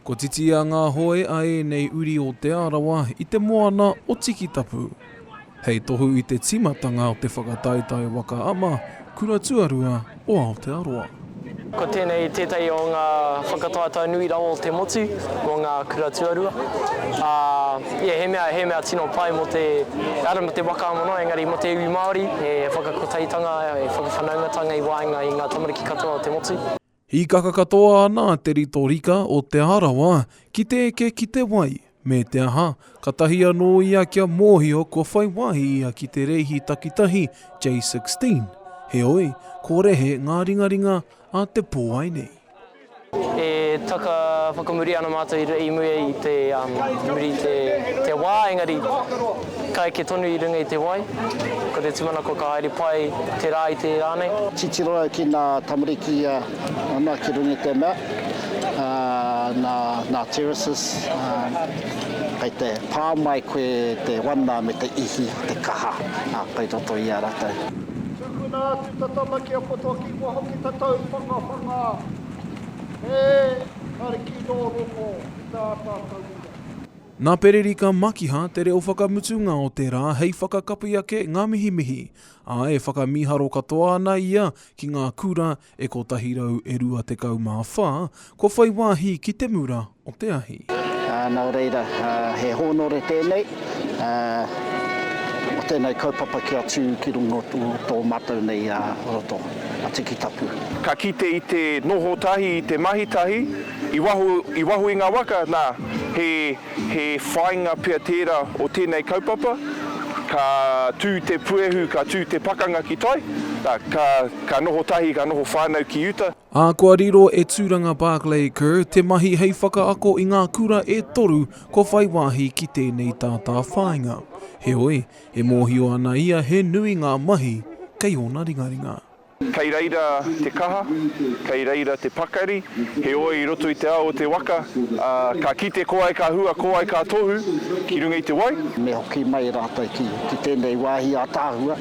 Ko Titia ngā hoe a ēnei uri o Te Arawa i te moana o Tikitapu. Hei tohu i te tīmatanga o te whakataetae waka ama, kura tuarua o Aotearoa. Ko tēnei tētahi o ngā whakataetae nui rawa o te motu mō ngā kura tuarua. Ā, ia he mea, he mea tino pai mō te, ehara mō te waka ama noa, engari mō te iwi Māori, he whakakotaitanga, he whakawhanaungatanga i waenga i ngā tamariki katoa o te motu. Hīkaka katoa ana te rito rika o Te Arawa ki te eke ki te wai, me te aha, katahi anō ia kia mōhio kua whai wāhi ia ki te rēhi takitahi J16, heoi, ko Rehe ngā ringaringa a te pō ai nei. E taka whakamuri ana mātou i muri i te wā, engari. Ka eke tonu i runga i te wai. Ko te tūmanako ka haere pai te rā i te rānei. Titiro au ki ngā tamariki i a ana ki runga i te mea nā Terraces kei te pā mai koe te wana me te ihi, te kaha kei roto i a ratou. Tukuna atu ta tama ki a poto ki wa hoki ta tau whangawhanga he Kariki no rongo i ta ata tauira. Nā Pererika Makiha te reo whakamutunga o te rā hei whakakapi ake ngā mihimihi, ā, e whakamīharo katoa ana ia ki ngā kura e 124 kua whai wāhi ki te mura o te ahi. Nō reira, he hōnore tēnei o tēnei kaupapa kia tū ki runga o tō mātou nei roto, a Tikitapu. Ka kite i te noho tahi, i te mahi tahi. I waho, i waho i ngā waka, nā, he, he whāinga pea tērā o tēnei kaupapa, ka tū te puehu, ka tū te pakanga ki tai, nā, ka, ka noho tahi, ka noho whānau ki uta. Ā, kua riro e Tūranga Barclay Kerr te mahi hei whakaako i ngā kura e toru kua whai wāhi ki tēnei tātāwhāinga. Heoi, e mōhio ana ia he nui ngā mahi kei ōna ringaringa. Kei reira te kaha, kei reira te pakari, heoi i roto i te ao o te waka, ā, ka kite ko ai ka hua, ko ai ka tohu ki runga i te wai. Me hoki mai rātou ki, ki tēnei wāhi ātaahua,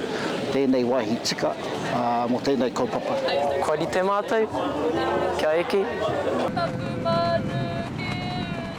tēnei wāhi tika, ā, mō tēnei kaupapa. Kua rite mātou kia eke. Taku manu ki uta.